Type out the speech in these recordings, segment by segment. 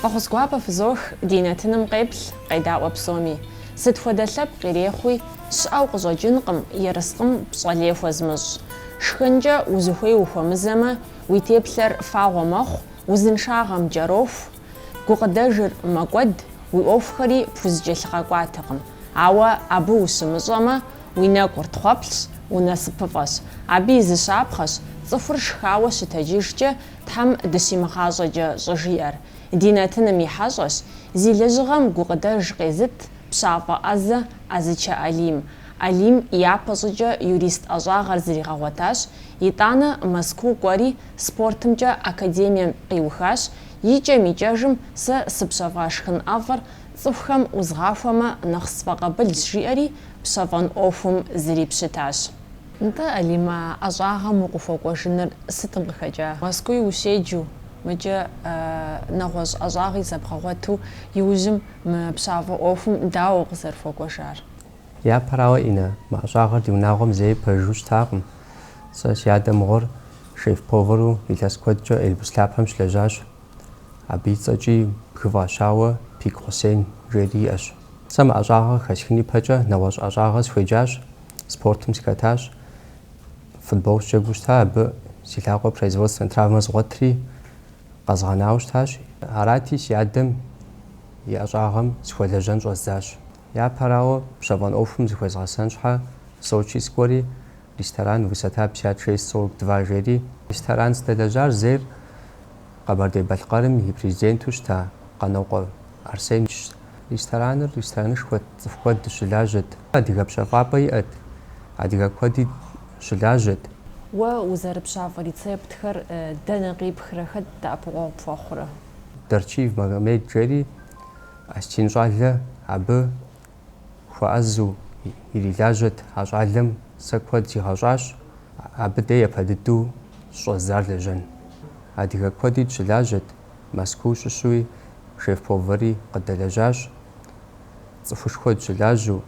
Фӏэхъус гуапэ фызох ди нэтыным къеплъ, къедаӏуэ псоми. Сыт хуэдэ лъэпкъ ирехъуи, щыӏэу къыщӏэкӏынкъым ерыскъым пщӏэ лей хуэзмыщӏ. Шхынкӏэ узыхуей ухуэмызэмэ, уи теплъэр фагъуэ мэхъу, узыншагъэм кӏэроху, гукъыдэжыр мэкӏуэд, уи ӏуэхухэри пхузэкӏэлъыгъэкӏуатэкъым. Ауэ абы ущымыщӏэмэ, Уи нэкӏур тхъуэплъщ, унасыпыфӏэщ. Абы и зы щапхъэщ цӏыхур шхауэ щытэджыжкӏэ Тхьэм дыщимыгъащӏэкӏэ щӏыжиӏэр. Ди нэтыным и хьэщӏэщ зи лэжьыгъэм гукъыдэж къезыт пщафӏэ ӏэзэ ӏэзычэ Алим. Алим япэ щӏыкӏэ юрист ӏэщӏагъэр зригъэгъуэтащ, итӏанэ Мэзкуу кӏуэри спортымкӏэ академием къиухащ, икӏэм-икӏэжым сэ сыпщэфӏа шхын ӏэфӏыр цӏыхухэм ӏузгъахуэмэ нэхъ сфӏэкъабылщ жиӏэри, пщэфӏэн ӏуэхум зрипщытащ. Нтӏэ, Алим, а ӏэщӏагъэм укъыхуэкӏуэжыныр сытым къыхэкӏа? Мэзкуу ущеджэу, мыкӏэ нэгъуэщӏ ӏэщӏагъи зэбгъэгъуэту, иужьым мы пщафӏэ ӏуэхум дауэ укъызэрыхуэкӏуэжар? Япэрауэ, Инна, мы ӏэщӏагъэр ди унагъуэм зэи пэжыжьэу щытакъым. Сэ си адэ мыгъуэр шеф-повэру илъэс куэдкӏэ Эльбрус лъапэм щылэжьащ. Абы и цӏэкӏи бгы фӏащауэ Пик Хъусен жери иӏэщ. Сэ мы ӏэщӏагъэ хэсхын ипэкӏэ нэгъуэщӏ ӏэщӏагъэ сыхуеджащ, спортым сыхэтащ. Футбол сджэгуу щыта, абы си лъакъуэр производственнэ травмэ згъуэтри, къэзгъэнауэ щытащ. Арати, си адэм и ӏэщӏагъэм сыхуэлэжьэн щӏэздзащ. Япэрауэ, пщэфӏэн ӏуэхум зыхуезгъэсэн щхьэ Сочи сыкӏуэри, ресторан высота пятьдесят шесть сорок два жери, ресторан сыздэлэжьар зейр Къэбэрдей-Балъкъэрым и Президенту щыта Къанокъуэ Арсенщ. Рестораныр ресторанышхуэт, цӏыху куэд дыщылажьэт. Адыгэ пщэфӏапӏэ иӏэт, адыгэ куэди щылажьэт. Уэ узэрыпщафӏэ рецептхэр дэнэ къипхрэ, хэт дэӏэпыкъуэгъу пхуэхъурэ? Дарчиев Магомед жери, осетин щӏалэ, абы. хуэӏэзу ирилажьэт а щӏалэм, сэ куэд сигъэщӏащ, абы дей япэ дыдэу щыщӏэздзар лэжьэн. Адыгэ куэди дщылажьэт, Мэзкуу щыщуи шеф-повэри къыддэлэжьащ, цӏыхушхуэ дщылажьэу,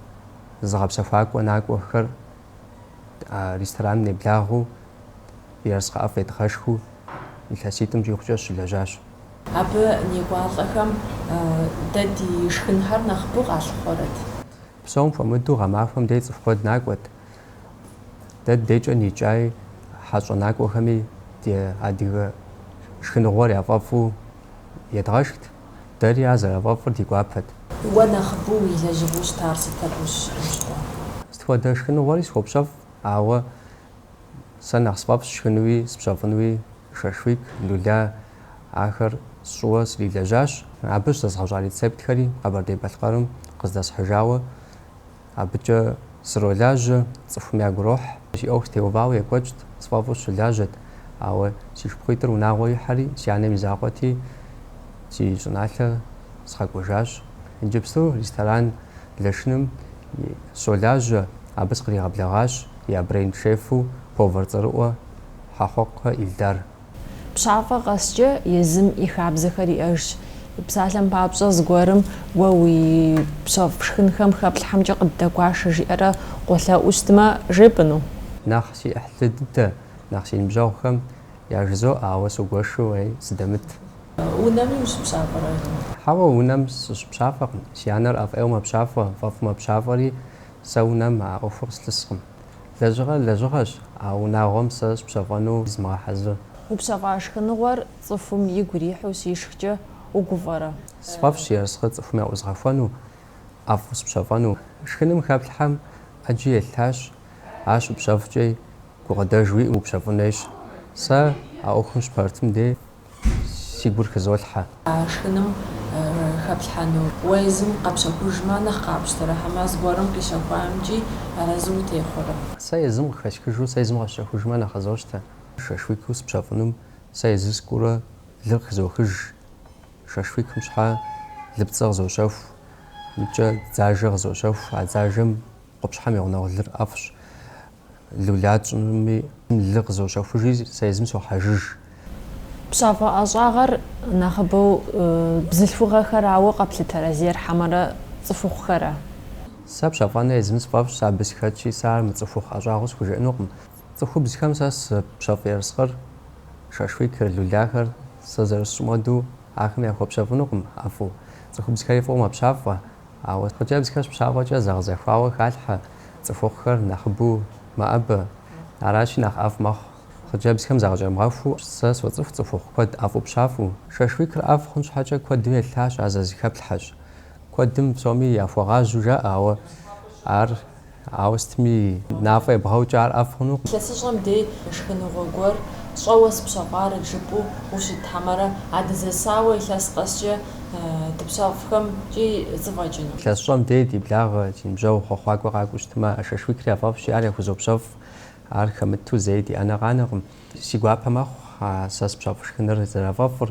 зыгъэпсэхуакӏуэ накӏуэхэр А рестораным неблагъэу ерыскъы ӏэфӏ едгъэшхыу илъэситӏым щӏигъукӏэ сыщылэжьащ. Абы некӏуалӏэхэм дэ ди шхынхэр нэхъыбэу къалъыхъуэрэт. Псом хуэмыдэу гъэмахуэм дей цӏыху куэд накӏуэт. Дэ ди дейкӏэ никӏай хьэщӏэ накӏуэхэми ди адыгэ шхыныгъуэр яфӏэфӏу едгъэшхт. Дэри ар зэрафӏэфӏыр ди гуапэт. Уэ нэхъыбэу уи лэжьыгъэу щытар сыт абы ущыӏэжкъым? Сыт хуэдэ шхыныгъуэри схуопщэфӏ, ауэ сэ нэхъ сфӏэфӏщ сшхынуи спщэфӏынуи шашлык, люля, ахэр сщӏыуэ срилэжьащ. Абы щызэзгъэщӏа рецептхэри Къэбэрдей-Балъкъэрым къыздэсхьыжауэ. Абыкӏэ сролажьэ, цӏыхум ягу рохь. Си ӏуэху теувауэ екӏуэкӏт, сфӏэфӏу сыщылажьэт, ауэ си шыпхъуитӏыр унагъуэ ихьэри, си анэм и закъуэти, си щӏыналъэ сыкъэкӏуэжащ. Иджыпсту ресторан Лашыным сыщолажьэ, абы сыкъригъэблэгъащ я бренд-шефу, повар цӏэрыӏуэ Хьэхъуэкъуэ Ильдар. Пщафӏэ къэскӏэ езым и хабзэхэр иӏэжщ. Псалъэм папщӏэ, зыгуэрым уэ упщэфӏ шхынхэм хэплъхьэмкӏэ къыддэгуашэ жиӏэрэ къолъэӏуу щытмэ, жепӏэну? Нэхъ си ӏыхьлы дыдэ, нэхъ си ныбжьэгъухэм яжызоӏэ, ауэ згуэшу уей сыдэмыт. Унэми ущыпщафӏэрэ? Хьэуэ, унэм сыщыпщафӏэкъым. Си анэр ӏэфӏ ӏейуэ мэпщафӏэ, фӏэфӏу мэпщафӏэри, сэ унэм а ӏуэхур къыслъыскъым. Лэжьыгъэр лэжьыгъэщ, а унагъуэм сэ сыпщэфӏэну змыгъэхьэзыр. Упщэфӏа шхыныгъуэр цӏыхум игу ирихьу щишхкӏэ угуфӏэрэ? Сфӏэфӏщ ерыскъыр цӏыхум яӏузгъэхуэну, ӏэфӏу сыпщэфӏэну. Шхыным хэплъхьэм ӏэджи елъытащ, ар щыпщэфӏкӏи, гукъыдэж уиӏэу упщэфӏын хуейщ. Сэ а ӏуэхум сыщыпэрытым дей си гур хызолъхьэ. А шхыным хэплъхьэну уэ езым къэпщэхужмэ, нэхъ къапщтэрэ хьэмэ зыгуэрым къищэхуамкӏи арэзы утехъуэрэ? Сэ езым къыхэсхыжу, сэ езым къэсщэхужмэ, нэхъ къызощтэ. Шашлык сыпщэфӏынум сэ езы сыкӏуурэ лыр къыхызохыж. Шашлыкым щхьэ лыпцӏэ къызощэху, икӏэ дзажэ къызощэху. А дзажэм къупщхьэм и гъунэгъу лыр ӏэфӏщ. Люля тщӏынуми лы къызощэхужи, сэ езым сохьэжыж. Пщафӏэ ӏэщӏагъэр нэхъыбэу бзылъхугъэхэрауэ къэплъытэрэ зейр, хьэмэрэ цӏыхухъухэра? Сэ пщэфӏэныр езым сфӏэфӏщ, абы сыхэтщи, сэ ар мыцӏыхухъу ӏэщӏагъэу схужыӏэнукъым. Цӏыхубзхэм сэ сыпщэфӏ ерыскъыр, шашлыкыр, люляхэр, сэ зэрысщӏым хуэдэу, ахэм яхуэпщэфӏынукъым ӏэфӏу. Цӏыхубзхэри фӏыуэ мэпщафӏэ. Ауэ хъыджэбзхэр щыпщафӏэкӏэ зэгъэзэхуауэ халъхьэ, цӏыхухъухэр нэхъыбэу мэӏэбэ. Аращи, нэхъ ӏэфӏ мэхъу хъыджэбзхэм загъэкӏэмгъэхуу. Сэ соцӏыху цӏыхухъу куэд ӏэфӏу пщафӏэу. Шашлыкыр ӏэфӏ хъун щхьэкӏэ куэдым елъытащ, ар зэрызэхэплъхьэщ. Куэдым псоми яхуэгъажьэу жаӏэ, ауэ ар Ауэ сытми, мафӏэ ебгъэукӏэ ар ӏэфӏ хъунукъым. Илъэсыщӏэм дей шхыныгъуэ гуэр щӏэуэ сыпщэфӏарэт жыпӏэу ущыт, хьэмэрэ а дызэсауэ илъэс къэскӏэ дыпщэфӏхэмкӏи зэфӏэкӏыну? Илъэсыщӏэм дей ди благъэ, ди ныбжьэгъу хъуэхъуакӏуэ къакӏуэу щытмэ, а шашлыкри яфӏэфӏщи, ар яхузопщэфӏ. Ар хэмыту зэи ди ӏэнэ къанэкъым. Си гуапэ мэхъу а сэ сыпщэфӏ шхыныр зэрафӏэфӏыр,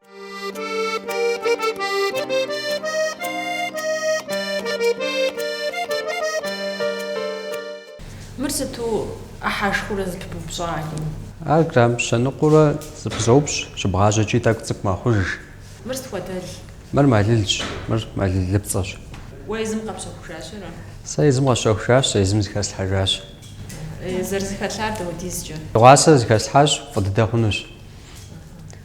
Мыр сыту ӏыхьэшхуэурэ зыпыбупщӏа Алим? Ар грамм щэныкъуэурэ зыпызоупщӏ, щыбгъажьэкӏи тӏэкӏу цӏыкӏу мэхъуж. Мыр сыт хуэдэл? Мыр мэлылщ, мыр мэлылыпцӏэщ. Уэ езым къэпщэхужащ ара? Сэ езым къэсщэхужащ, сэ езым зыхэслъхьэжащ. Зэрызыхэлъар дауэдизкӏэ? Дыгъуасэ зыхэслъхьащ, фӏы дыдэ хъунущ.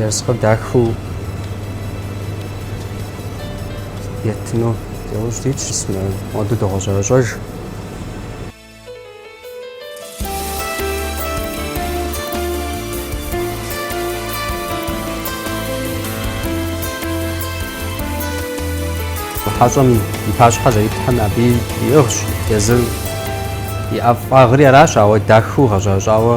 Ерыскъыр дахыу еттыну иужь дит щысмэ, моду догъэщӏэрэщӏэж. Хьэщӏэм и пащхьэ зэритлъхьэм абы иӏыгъщ езыр и ӏэфӏагъри аращ, ауэ дахыу гъэщӏэрэщӏауэ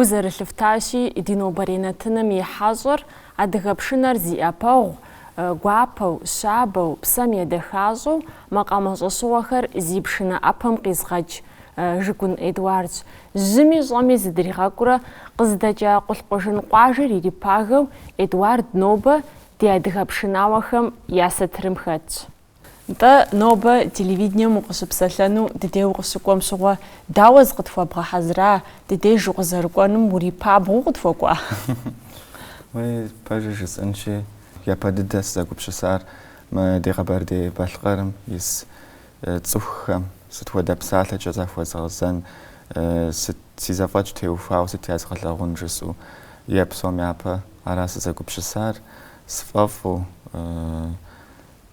Гу зэрылъыфтащи, ди нобэрей нэтыным и хьэщӏэр адыгэ пшынэр зи ӏэпэгъу, гуапэу, щабэу, псэм едэхащӏэу макъамэ щӏэщыгъуэхэр зи пшынэ ӏэпэм къизыгъэкӏ Жыгун Эдуардщ. Жьыми щӏэми зыдригъэкӏуурэ къыздэкӏа Къулъкъужын къуажэр ирипагэу Эдуард нобэ ди адыгэ пшынауэхэм я сатырым хэтщ. Нтӏэ, нобэ телевидением укъыщыпсэлъэну ди дей укъыщыкӏуэм щыгъуэ дауэ зыкъытхуэбгъэхьэзыра, ди деж укъызэрыкӏуэнум урипабгъэу укъытхуэкӏуа? Уей, пэжыр жысӏэнщи, япэ дыдэ сызэгупсысар мы ди Къэбэрдей-Балъкъэрым ис Цӏыхухэм сыт хуэдэ псалъэкӏэ захуэзгъэзэн, сыт си зэфӏэкӏ теухуауэ сыт язгъэлъагъун жысӏэу е псом япэ ара сызэгупсысар, сфӏэфӏу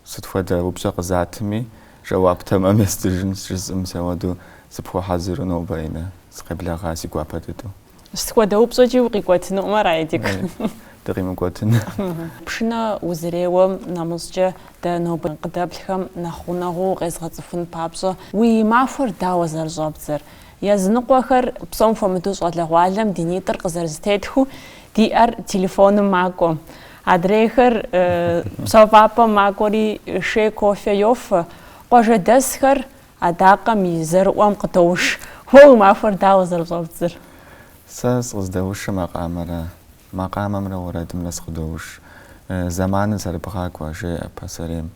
сыт хуэдэ упщӏэ къызатми, жэуап тэмэм естыжынщ жысӏэм сэ уэду сыпхуэхьэзыру нобэ, Инэ, сыкъеблэгъа си гуапэ дыдэу. Сыт хуэдэ упщӏэкӏи укъикӏуэтынукъым ара, Эдик? Дыкъимыкӏуэтыну. Пшынэ узэреуэм нэмыщӏкӏэ дэ нобэ къыдэплъхэм нэхъ гъунэгъуу укъезгъэцӏыхун папщӏэ, уи махуэр дауэ зэрыщӏэбдзэр? Языныкъуэхэр псом хуэмыдэу щӏалэгъуалэм ди нитӏыр къызэрызэтетхыу, ди ӏэр телефоным макӏуэ. Адрейхэр пщэфӏапӏэм макӏуэри, шей кофе йофэ. Къуажэдэсхэр Адакъэм и зэрыӏуэм къыдоуш. Уэ уи махуэр дауэ зэрыщӏэбдзэр? Сэ сыкъыздэушыр макъамэра, макъамэмрэ уэрэдымрэ сыкъыдоуш. Зэманыр зэрыбгъакӏуэ, жеӏэ пасэрейм.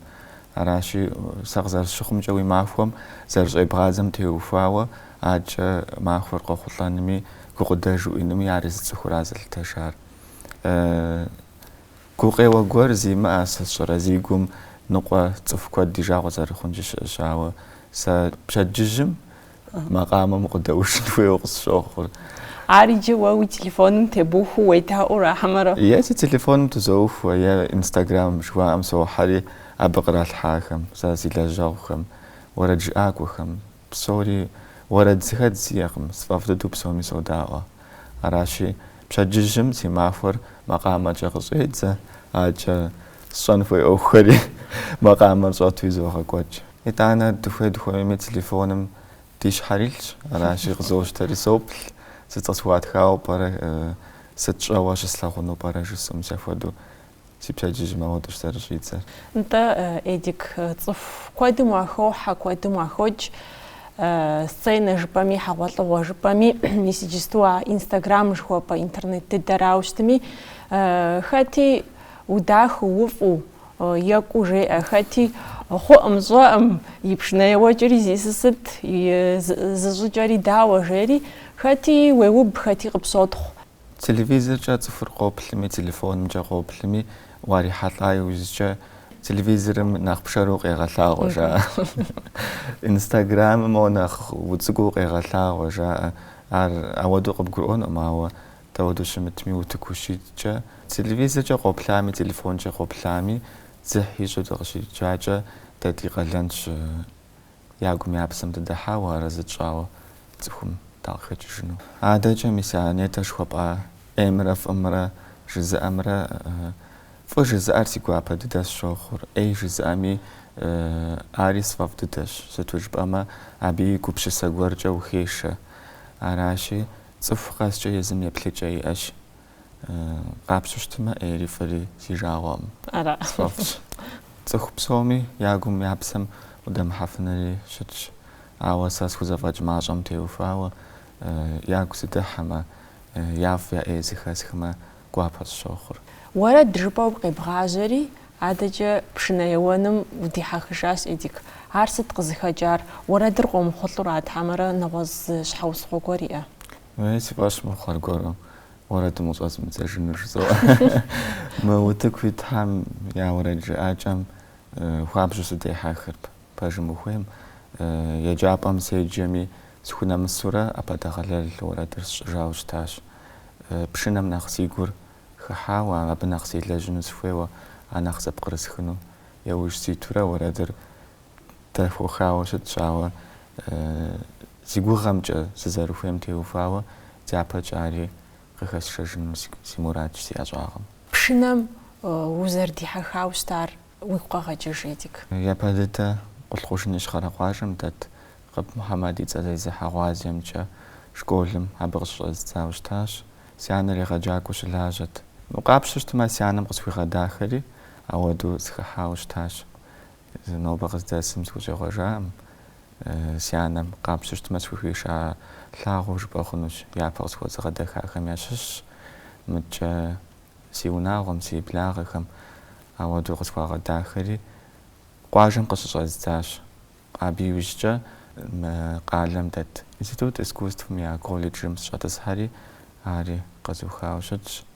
Аращи, сэ къызэрысщыхъумкӏэ уи махуэм зэрыщӏебгъадзэм теухуауэ адэкӏэ махуэр къохъулӏэнми, гукъыдэж уиӏэнми ар езы цӏыхура зэлъытэжар. Гукъеуэ гуэр зимыӏэ сыт сщӏэрэ, зи гум ныкъуэ цӏыху куэд ди жагъуэ зэрыхъункӏи щыӏэщ, ауэ сэ пщэдджыжьым макъамэм укъыдэушын хуейуэ къысщохъур. Ар иджы уэ уи телефоным тебухуэу уедаӏуэрэ хьэмэрэ? Е си телефоным тызоухуэ, е инстаграм жыхуаӏэм сохьэри абы къралъхьахэм, сэ си лэжьэгъухэм, уэрэджыӏакӏуэхэм, Псори уэрэд зыхэдз сиӏэкъым, сфӏэфӏ дыдэу псоми содаӏуэ. Аращи, пщэдджыжьым си махуэр макъамэкӏэ къыщӏедзэ, адэкӏэ сщӏэн хуей ӏуэхухэри макъамэр щӏэтуи зогъэкӏуэкӏ. Итӏанэ, дыхуей-дыхуэмейми телефоным ди щхьэр илъщ, аращи, къызощтэри соплъ, сыт къысхуатхауэ пӏэрэ, сыт щӏэуэ щыслъагъуну пӏэрэ жысӏэм, сэ хуэдэу Си пщэдджыжьым ауэдэщ зэрыщӏидзэр. Нтӏэ, Эдик, цӏыху куэдым уахохьэ, куэдым уахокӏ. Сценэ жыпӏэми, хьэгъуэлӏыгъуэ жыпӏэми, мис иджысту а Инстаграм жыхуэпӏэ интернет дыдэрауэ щытми, хэти удахэу, уфӏу, екӏуу жеӏэ, хэти хъуӏым, щӏэӏым, и пшынэ еуэкӏэри зи сысыт, зыщӏыкӏэри дауэ жери, хэти уеуб, хэти къыпщотхъу. Телевизоркӏэ цӏыхур къоплъми, телефонымкӏэ къоплъми, уарихьэлӏа иужькӏэ, телевизорым нэхъ пшэру укъегъэлъагъуэ, жаӏэ. Инстаграмым моуэ нэхъ уцӏыкӏуу укъегъэлъагъуэ, жаӏэ. Ар ауэдэу къыбгурыӏуэнукъым, ауэ дауэдэу щымытми, утыку ущиткӏэ. Телевизоркӏэ къоплъами, телефонкӏэ къоплъами, дзыхь ищӏу дыкъыщиджакӏэ, дэ ди къалэнщ Я гум я псэм дыдыхьауэ арэзы тщӏауэ цӏыхум дакъыхэкӏыжыну. Адэкӏэ мис а нетӏэ жыхуэпӏа ӏеймрэ фӏымрэ жызыӏэмрэ Фӏы жызыӏэр си гуапэ дыдэ сщохъур, ӏей жызыӏэми ари сфӏэфӏ дыдэщ, сыту жыпӏэмэ абы и гупсысэ гуэркӏэ ухешэ. Аращи, цӏыху къэскӏэ езым еплъыкӏэ иӏэщ. Къапщу щытмэ, ӏейри фӏыри си жагъуэкъым. Ара? Сфӏэфӏщ. Цӏыху псоми я гум, я псэм удэмыхьэфынури щытщ. Ауэ сэ схузэфӏэкӏ мащӏэм теухуауэ, ягу сыдыхьэмэ, я фӏ, я ӏей зыхэсхмэ, гуапэ сщохъур. Уэрэд жыпӏэу къебгъажьэри, адэкӏэ пшынэ еуэным удихьэхыжащ, Эдик. Ар сыт къызыхэкӏар? Уэрэдыр къомыхъулӏэу арат хьэмэрэ нэгъуэщӏ зы щхьэусыгъуэ гуэр иӏэ? Уей, си фӏэщ мыхъу аргуэру уэрэдым къыщӏэзмыдзэжыну жызоӏэ. Мы утыку итхэм я уэрэд жыӏакӏэм хуабжьу сыдехьэхырт. Пэжым ухуейм, еджапӏэм седжэми, схунэмысурэ ӏэпэдэгъэлэл уэрэдыр сщӏыжауэ щытащ. Пшынэм нэхъ си гур хыхьауэ, абы нэхъ селэжьыну сыхуейуэ, ар нэхъ зэпкърысхыну яужь ситурэ уэрэдыр дэхуэхауэ щытщ, ауэ Си гугъэмкӏэ сызэрыхуейм теухуауэ дяпэкӏэ ари къыхэсшэжыну си мурадщ си ӏэщӏагъэм. Пшынэм узэрыдихьэхауэ щытар уигу къэгъэкӏыж, Эдик. Япэ дыдэ Къулъкъужын Ищхъэрэ къуажэм дэт Къып Мухьэмэд и цӏэ зезыхьэ гъуазджэмкӏэ школым абы къыщыщӏэздзауэ щытащ. Си анэр егъэджакӏуэу щылажьэт. Мыбы къапщтэу щытмэ, а си анэм къысхуигъэдахэри ауэдэу сыхыхьауэ щытащ. Нобэ къыздэсым сыхущӏегъуэжакъым, Си анэм, къапщу щытмэ, схухиша лъагъуэу жыпӏэ хъунущ, япэ къысхуэзыгъэдэхахэм ящыщщ, мыдкӏэ си унагъуэм, си благъэхэм ауэдэу къысхуагъэдахэри, къуажэм къыщыщӏэздзащ. Абы иужькӏэ мы къалэм дэт Институт искусствэм я колледжым сыщӏэтӏысхьэри, ари къэзухауэ щытщ.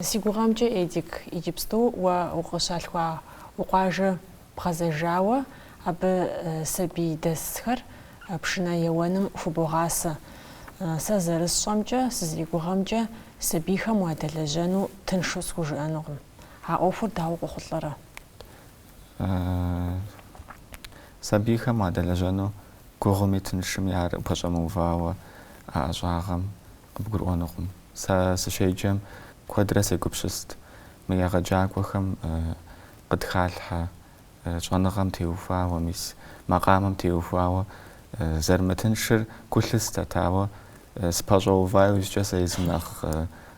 Си гугъэмкӏэ, Эдик, иджыпсту уэ укъыщалъхуа уи къуажэ бгъэзэжауэ, абы сабий дэсхэр пшынэ еуэным хубогъасэ. Сэ зэрысщӏэмкӏэ, сызэригугъэмкӏэ, сабийхэм уадэлэжьэну тыншу схужыӏэнукъым. А ӏуэхур дауэ къохъулӏэрэ? Сабийхэм уадэлэжьэну гугъуми тыншыми ар упэщӏэмыувауэ а ӏэщӏагъэм къыбгурыӏуэнукъым. Сэ сыщеджэм куэдрэ сегупсыст мы егъэджакӏуэхэм къытхалъхьэ щӏэныгъэм теухуауэ, мис макъамэм теухуауэ зэрымытыншыр гу лъыстэт, ауэ сыпэщӏэува иужькӏэ сэ езым нэхъ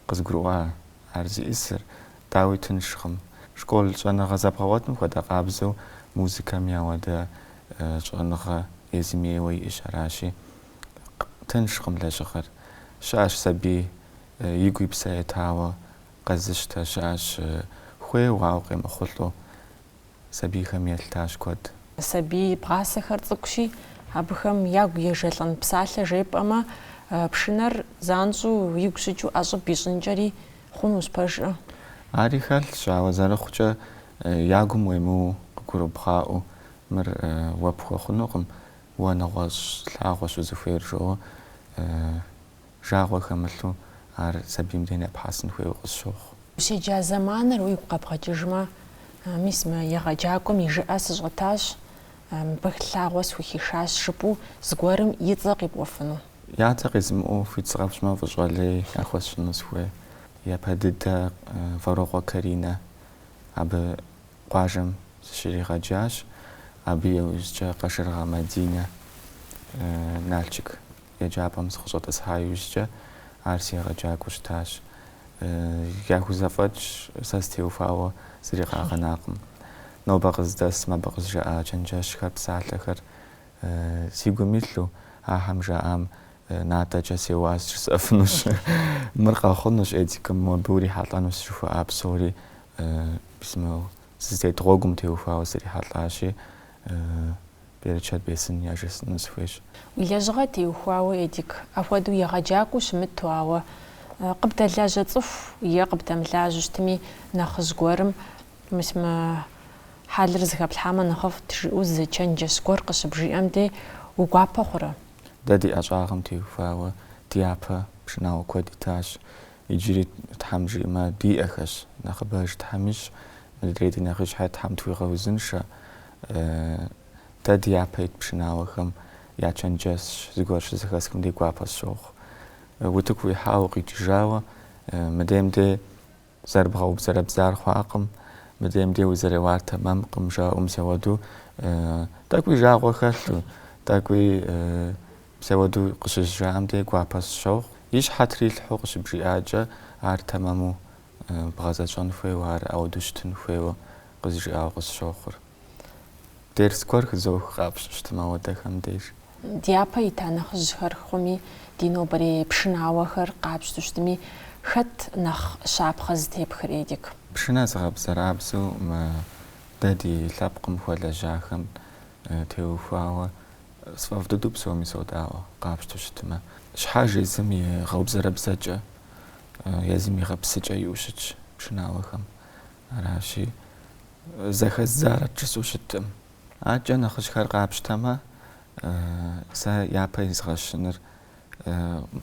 къызгурыӏуа ар зиӏысыр, дауи тыншкъым. Школ щӏэныгъэ зэбгъэгъуэтым хуэдэ къабзэу музыкэми ауэдэ щӏэныгъэ езым ейуэ иӏэщ, аращи, тыншкъым лэжьыгъэр. Щыӏэщ сабий игу и псэ етауэ къэзыщтэ, щыӏэщ хуейуэ, ауэ къемыхъулӏэу сабийхэм елъытащ куэд. Сабий бгъасэхэр цӏыкӏущи, абыхэм ягу ежэлӏэн псалъэ жепӏэмэ, пшынэр занщӏэу игу щыкӏыу ӏэщӏыб ищӏынкӏэри хъунущ пэжкӏэ. Ари хэлъщ, ауэ зэрыхъукӏэ ягум уемыуэу къыгурыбгъаӏуэу мыр уэ пхуэхъунукъым, Уэ нэгъуэщӏ лъагъуэщ узыхуейр, жо, жагъуэ хэмылъу, ар сабийм дей нэпхьэсын хуейуэ къысщохъу. Ущеджа зэманыр уигу къэбгъэкӏыжмэ, мис мы егъэджакӏуэм и жыӏэ сыщӏэтащ, мыбы лъагъуэ схухишащ жыпӏэу зыгуэрым и цӏэ къипӏуэфыну. Я цӏэ къизмыӏуэу хуит сыкъэфщӏмэ, фӏыщӏэ лей яхуэсщӏыну сыхуей. Япэ дыдэ, Вэрокъуэ Каринэ. Абы къуажэм сыщригъэджащ, абы иужькӏэ Къашыргъэ Мадинэ Налшык еджапӏэм сыкъыщӏэтӏысхьа иужькӏэ ар си егъэджакӏуэу щытащ. Яхузэфӏэкӏ сэ стеухуауэ зыри къагъэнакъым. Нобэ къыздэсым абы къызжаӏа чэнджэщхэр, псалъэхэр си гум илъу, ахэм жаӏам натӏэкӏэ сеуа жысӏэфынущ. Мыр къэхъунущ, Эдик, мобы урихьэлӏэнущ жыхуаӏа псори мис мы сызытет гъуэгум теухуауэ срихьэлӏащи, берычэт бесын яжесӏэну сыхуейщ. Уи лэжьыгъэ теухуауэ, Эдик, апхуэдэу егъэджакӏуэу щымыту, ауэ къыбдэлажьэ цӏыху е къыбдэмылажьэу щытми, нэхъыжь гуэрым мис мы хьэлыр зыхэплъхьамэ нэхъыфӏт, жыӏэу зы чэнджэщ гуэр къыщыбжиӏэм дей уи гуапэ хъурэ? Дэ ди ӏэщӏагъэм теухуауэ ди япэ пшынауэ куэд итащ. Иджыри, Тхьэм жиӏэмэ, диӏэхэщ. Нэхъыбэж Тхьэм ищӏ, мыдрей ди нэхъыжьхэр Тхьэм тхуигъэузыншэ. Дэ ди япэ ит пшынауэхэм я чэнджэщ зыгуэр щызэхэсхым дей гуапэ сщохъу. Утыку уихьауэ укъикӏыжауэ, мыдейм дей Зэрыбгъэубзэрэбзар хъуакъым, мыдейм дей узэреуар тэмэмкъым, жаӏэу мис ауэду тӏэкӏуи жагъуэ хэлъу, тӏэкӏуи мис ауэду къыщызжаӏэм дей гуапэ сщохъу. И щхьэ трилъхьэу къыщыбжиӏакӏэ, ар тэмэму бгъэзэщӏэн хуейуэ, ар ауэду щытын хуейуэ къызжиӏауэ къысщохъур. Дерс гуэр хызох къапщту щытмэ ауэдэхэм деж. Дяпэ ита нэхъыжьхэр хъуми, ди нобэрей пшынауэхэр къапщту щытми, хэт нэхъ щапхъэ зытепхыр, Эдик? Пшынэ зыгъэбзэрабзэу мы дэ ди лъэпкъым хуэлэжьахэм теухуауэ сфӏэфӏ дыдэу псоми содаӏуэ, къапщту щытмэ. Щхьэж езым и гъэубзэрэбзэкӏэ, езым и гъэпсыкӏэ иӏэу щытщ пшынауэхэм. Аращи, зэхэс зарэт жысӏэу щыткъым. Акӏэ нэхъыжьхэр къапщтэмэ, сэ япэ изгъэщыныр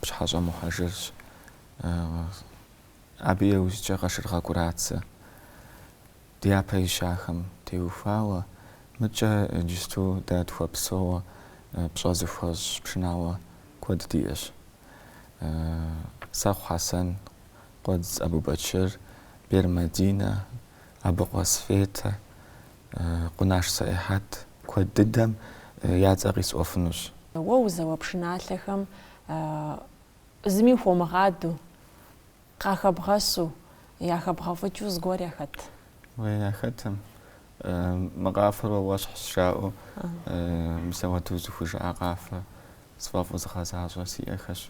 Пщыхьэщӏэ Мухьэжырщ. Абы иужькӏэ Къашыргъэ Кӏурацэ. Дяпэ ищахэм теухуауэ, мыкӏэ иджысту дэ тхуэпсэууэ пщӏэ зыхуэсщӏ пшынауэ куэд диӏэщ. Сэхъу Хьэсэн, Къуэдз Абубэчыр, Бер Мадинэ, Абыкъуэ Светэ, Къунаш Сэӏихьэт куэд дыдэм я цӏэ къисӏуэфынущ. Уэ узэуэ пшыналъэхэм зыми хуумыгъадэу, къахэбгъэщу, яхэбгъэфӏыкӏыу зыгуэр яхэт? Уей, яхэтым. Мы къафэр уэ уэщхьщ жаӏэу мис ауэдэу зыхужаӏэ къафэ сфӏэфӏу згъэзащӏэ сиӏэхэщ.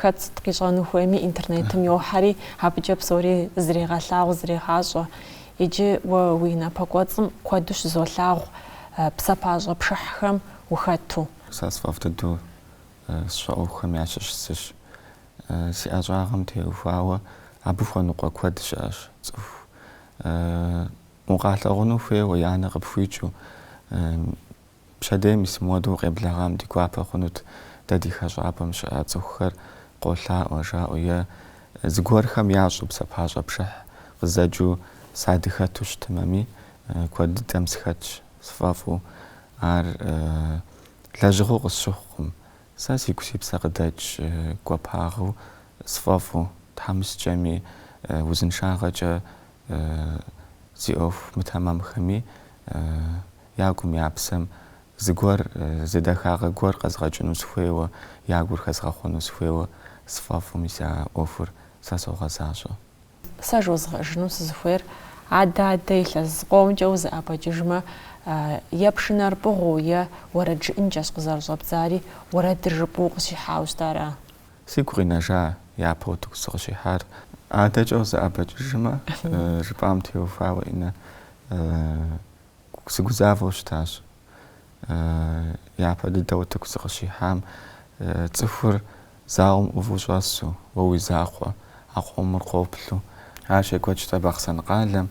Хэт сыт къищӏэну хуейми интернетым йохьэри, абыкӏэ псори зрегъэлъагъу, зрегъащӏэ. Иджы уэ уи напэкӏуэцӏым куэду щызолъагъу псапащӏэ пшыхьхэм ухэту. Сэ сфӏэфӏ дыдэу сщӏэ ӏуэхухэм ящыщ зыщ. Си ӏэщӏагъэм теухуауэ абы хуэныкъуэ куэд щыӏэщ цӏыху. Укъалъагъуну хуейуэ я нэ къыпхуикӏыу Пщэдей мис мыуэдэу укъеблэгъам ди гуапэ хъунут дэ ди хэщӏапӏэм щыӏэ цӏыхухэр къолъаӏуэ, жаӏэу е зыгуэрхэм ящӏу псапащӏэ пшыхь къызэджэу садыхэту щытымэми, куэд дыдэм сыхэтщ сфӏэфӏу. Ар лэжьыгъэу къысщыхъукъым. Сэ сигу си псэ къыдэкӏ гуапагъэу сфӏэфӏу, тхьэмыщкӏэми, узыншагъэкӏэ зи ӏуэху мытэмэмхэми Я гум, я псэм зыгуэр, зы дахагъэ гуэр къэзгъэкӏыну сыхуейуэ, я гур хэзгъэхъуэну сыхуейуэ сфӏэфӏу, мис а ӏуэхур сэ согъэзащӏэ. Сэ жозгъэӏэжыну сызыхуейр, адэ-адэ илъэс зыкъомкӏэ узэӏэбэкӏыжмэ, е пшынэр пӏыгъыу, е уэрэд жыӏэнкӏэщ къызэрыщӏэбдзари, уэрэдыр жыпӏэу укъыщихьауэ щыта ара? Сигу къинэжа япэ утыку сыкъыщихьар. Адэкӏэ узэӏэбэкӏыжмэ, жыпӏам теухуауэ Инэ Сыгузавэу щытащ япэ дыдэ утыку сыкъыщихьам, цӏыхур залым ӏуву щӏэсу, уэ уи закъуэ а къомыр къоплъу. Ар щекӏуэкӏауэ щыта Бахъсэн къалэм,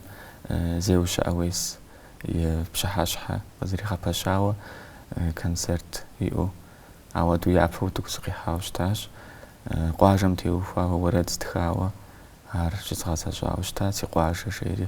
Зеущэ Ӏэуес и пщыхьэщхьэ къызэригъэпэщауэ концерт иӏэу. Ауэдэу япэ утыку сыкъихьауэ щытащ. Къуажэм теухуауэ уэрэд стхауэ ар щызгъэзэщӏауэ щытат, си къуажэ жери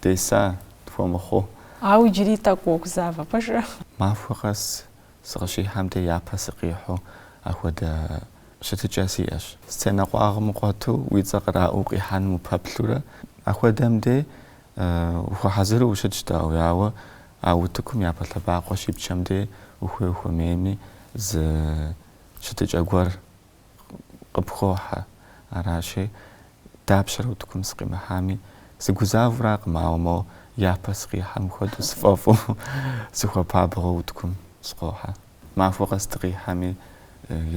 Деса, тхуэмыхъу. Ауэ иджыри тӏэкӏу уогузавэ пэжрэ? Махуэ къэс сыкъыщихьэм де япэ сыкъихьу ахуэдэ щытыкӏэ сиӏэщ. Сценэ къуагъым къуэту уи цӏэ къраӏуэу къихьэным упэплъурэ, ахуэдэм де ухуэхьэзыру ущытщ дауи, ауэ а утыкум япэ лъэбакъуэ щипчэм де ухуей-ухуэмейми зы щытыкӏэ гуэр къыпхохьэ. Аращи, дапщэрэ утыкум сыкъимыхьами, сыгузавэуракъым, ауэ мо япэ сыкъихьэм хуэдэу сфӏэфӏу, сыхуэпабгъэу утыкум сыкъохьэ. Махуэ къэс дыкъихьэми,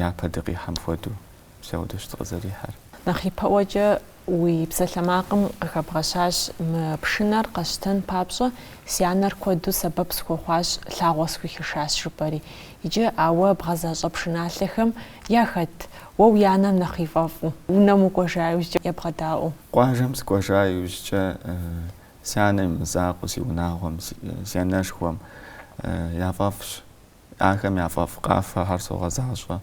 япэ дыкъихьэм хуэдэу, мис ауэдэщ дыкъызэрихьэр. Нэхъ ипэӏуэкӏэ Уи псалъэмакъым къыхэбгъэщащ мы пшынэр къэсщтэн папщӏэ, си анэр куэду сэбэп схуэхъуащ, лъагъуэ схуихышащ, жыпӏэри. Иджы, ауэ, бгъэзащӏэ пшыналъэхэм яхэт, уэ уи анэм нэхъ и фӏэфӏу, унэм укӏуэжа иужькӏэ ебгъэдаӏуэу? Къуажэм сыкӏуэжа иужькӏэ, си анэм и мызакъуэу, си унагъуэм, си анэшхуэм яфӏэфӏщ, ахэм яфӏэфӏ къафэхэр согъэзащӏэ.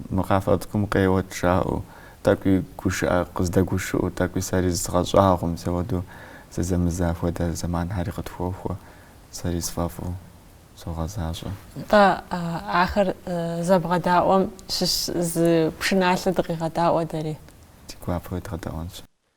Мы къафэ цӏыкӏум къеуэт жаӏэу, тӏэкӏуи гушыӏэ къыздэгушыӏэу, тӏэкӏуи сэри зызгъэщӏагъуэу, мис ауэдэу зэзэмызэ хуэдэ зэманхэри къытхуохуэ, сэри сфӏэфӏу согъэзащӏэ. Тӏэ ахэр зэбгъэдаӏуэм щыщ зы пшыналъэ дыкъегъэдаӏуэ дэри. Ди гуапэу уедгъэдаӏуэнщ.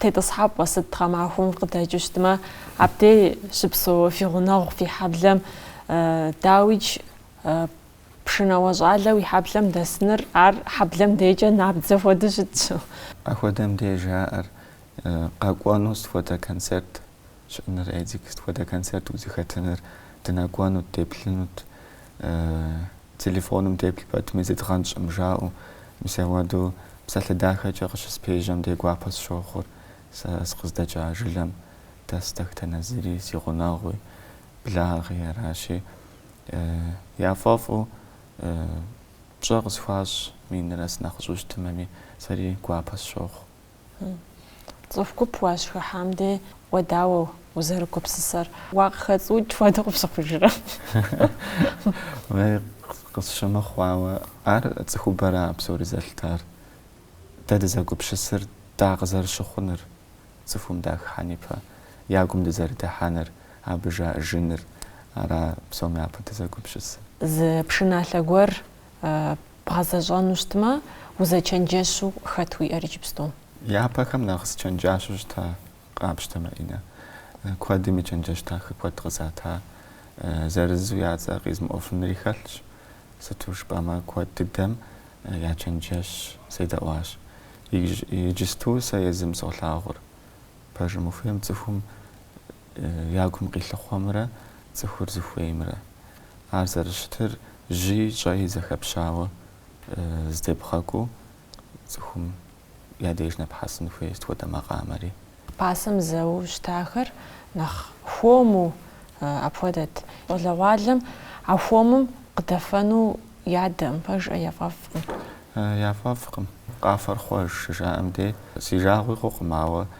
Тетӏысхьэпӏэ сыт гъэмахуэм къыдэкӏыу щытмэ, абдей щыпсэу фи гъунэгъу фи хьэблэм дауи иджы пшынауэ щӏалэ уи хьэблэм дэсыныр, ар хьэблэм декӏэ набдзэ хуэдэу щытщ. Апхуэдэм деж жаӏэр къэкӏуэну сыт хуэдэ концерт щыӏэныр Эдик сыт хуэдэ концерт узыхэтыныр, дынэкӏуэнут, деплъынут, телефоным деплъ пэтми зыдгъэнщӏым жаӏэу, мис ауэдэу псалъэ дахэкӏэ къыщыспежьэм дей гуапэ сщохъур сэ сыкъыздэкӏа жылэм дэс дэтхэнэ зыри, си гъунэгъуи, благъи аращи, яфӏэфӏу пщӏэ къысхуащӏ, минрэ сынэхъыщӏу щытымэми, сэри гуапэ сщохъу. Цӏыху гуп уащыхыхьам дей уэ дауэ узэрыгупсысэр. Уакъыхэцӏуукӏ хуэдэу къыпщыхъужрэ? Къысщымыхъуауэ, ар цӏыхубэра псори зэлъытар. Дэ дызэгупсысыр дакъызэрыщыхъуныр, цӏыхум дахыхьэн ипэ я гум дызэрыдыхьэныр, абы жаӏэжыныр, ара псом япэ дызэгупсысыр. Зы пшыналъэ гуэр Бгъэзэщӏэну щытмэ, узэчэнджэщу хэт уиӏэр иджыпсту? Япэхэм нэхъ сызэчэнджэщу щыта къапщтэм, Маринэ. Куэдым и чэнджэщ дахэ куэд къызата. Зырызу я цӏэ къизмыӏуэфынри хэлъщ. Сыту жыпӏэмэ, куэд дыдэм я чэнджэщ седэӏуащ. Иджысту сэ езым солъагъур. Пэжым ухуейм цӏыхум я гум къилъыхъуэмрэ цӏыхур зыхуеймрэ. Ар зэрыщытыр жьи щӏэи зэхэпщауэ здебгъэкӏуу цӏыхум я деж нэпхьэсын хуей сыт хуэдэ макъамэри. Пасэм зэуэу щытахэр нэхъ хуэму апхуэдэт. Щӏалэгъуалэм а хуэмым къыдэфэну ядэкъым, пэжкъэ, яфӏэфӏкъым. Яфӏэфӏкъым. Къафэр хъуэж щыжаӏэм дей, си жагъуи хъукъым, ауэ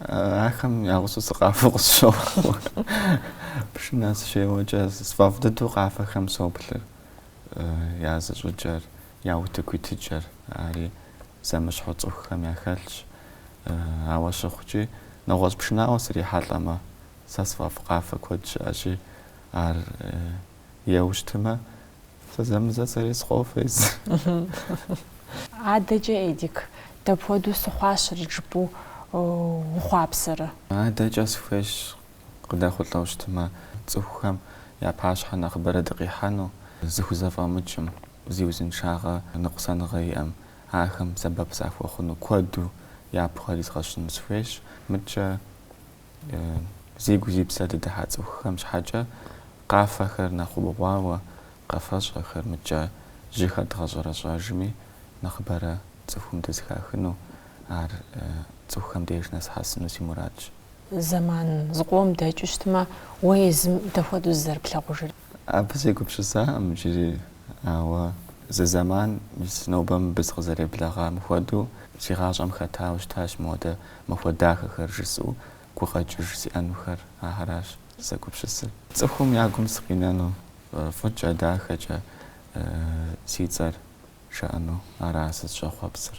Ахэм я гъусэу сыкъафэу къысщохъуэ. Пшынэ сыщеуэкӏэ сфӏэфӏ дыдэу къафэхэм соплъыр, я зыщӏыкӏэр, я утыку итыкӏэр. Ари зэмыщхьэу цӏыхухэм яхэлъщ. Ауэ щыхъукӏи, нэгъуэщӏ пшынауэ срихьэлӏэмэ, сэ сфӏэфӏ къафэ куэд щыӏэщи, ар еуэу щытмэ, зэзэмызэ сэри сыкъофэ. Адэкӏэ, Эдик, дапхуэдэу сыхъуащэрэт жыпӏэу ухъуапсэрэ? Адэкӏэ сыхуейщ, къыдэхъулӏэу щытымэ, цӏыхухэм я пащхьэ нэхъыбэрэ дыкъихьэну, зыхузэфӏэмыкӏым, зи узыншагъэ ныкъусаныгъэ иӏэм, ахэм сэбэп сахуэхъуну куэду япэ ахэр изгъэщын сыхуейщ. Мыдкӏэ. Зи гу зи псэ дыдыхьа цӏыхухэм щхьэкӏэ къафэхэр нэхъ убгъуауэ къэфэщӏэхэр мыкӏэ жьыхэр дгъэщӏэрэщӏэжми, нэхъыбэрэ цӏыхум дызэхахыну, ар цӏыхухэм деж нэсхьэсыну си мурадщ. Зэман зыкъом дэкӏыу щытмэ, уэ езым дапхуэдэу зызэрыплъагъужыр? Абы сегупсысакъым иджыри, ауэ зы зэман мис нобэ мыбы сыкъызэреблэгъам хуэдэу си гъащӏэм хэтауэ щытащ моуэдэ махуэ дахэхэр жысӏэу гукъэкӏыж сиӏэнухэр. Ахэращ сызэгупсысыр. Цӏыхум я гум сыкъинэну, фӏыкӏэ, дахэкӏэ си цӏэр жаӏэну ара сызыщӏэхъуэпсыр.